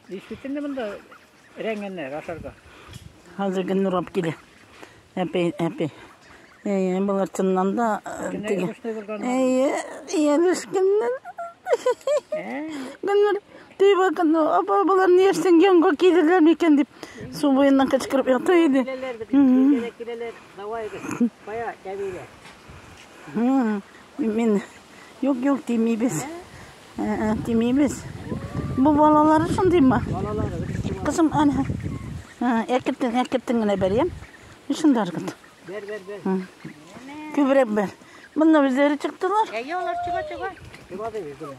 Действительно монда рәңгәннәр ашарга. Хәзер гел нурап килә. Әпи, әпи. Әйе, болар чыннан да теге. Әйе, яшкеннәр. Гөлнур, тей бакын, апа, болар ни яшсен, янга килерләр микән дип, су буеннан кычкырып ята иде. Киләләр, киләләр, давай, кая, кәбилә. Мин, юк, юк, тимибез. Ә, тимибез. Бу балалары шундый ма? Кызым, әнә. Әкертен, әкертен генә бер, я? Шунда аргыт. Бер, бер, бер. Күбрәк бер. Монда үзләре чыктылар. Әйе, алар чыга, чыга.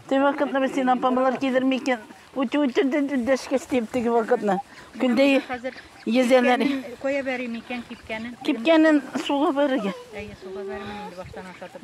Теге вакытны без син апамлар кидерми икән. Үтү үтүдән дәшкәс дип теге вакытны. Көндә езәләр. Коя бәрим икән кипкәнен. Кипкәнен суга бәрергә. Әйе, суга бәрмәм инде баштан ашатып.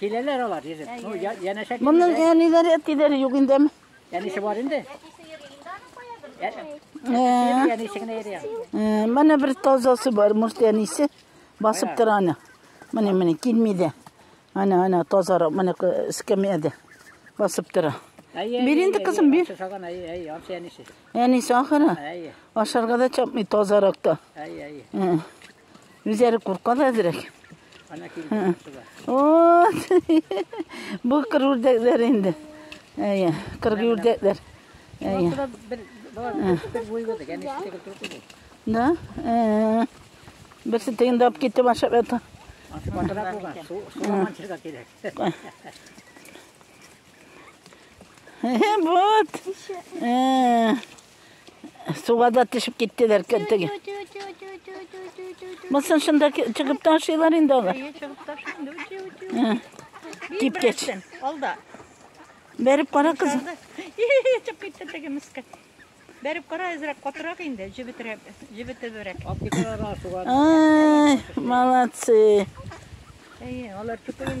Киләләр алар йөзеп. Ну, я- янәшә килмиләр. Моның әниләре, әтиләре юк инде. әм. Әнисе бар инде. Ә- Ә, Әнисе генә йөри. ә, Менә бер тазасы бар, может, әнисе басып тора аны. Менә, менә, килми дә. Ана, ана, тазарак, менә ку- эскәмиядә басып тора. Әйе, Бир әйе, инде, әйе, кызым, бир. Ансы салган, әйе, әйе, ансы әнисе. Әнисе ахыры. Әйе, Ашарга да чапмый тазарак та. әйе, әйе. Ә. Үзләре курка да әзрәк. Ана килде. Бу кыр үрдәкләр инде. Әйе, кыр үрдәкләр. Әйе. Да? Э. Берсе тегендә алып китте башып ята. Ашпатырак булган. Суламан чыга кирәк. Вот. Э. Суга да төшеп киттеләр теге. Мысын шунда чыгып ташыйлар инде алар. Кип кеч. Алда. Бәреп кара кыз. Чыгып китте теге мискә. Бәреп кара әзрәк катырак инде, җебетрәк, җебетерәк. Молодцы. Әйе, алар чукын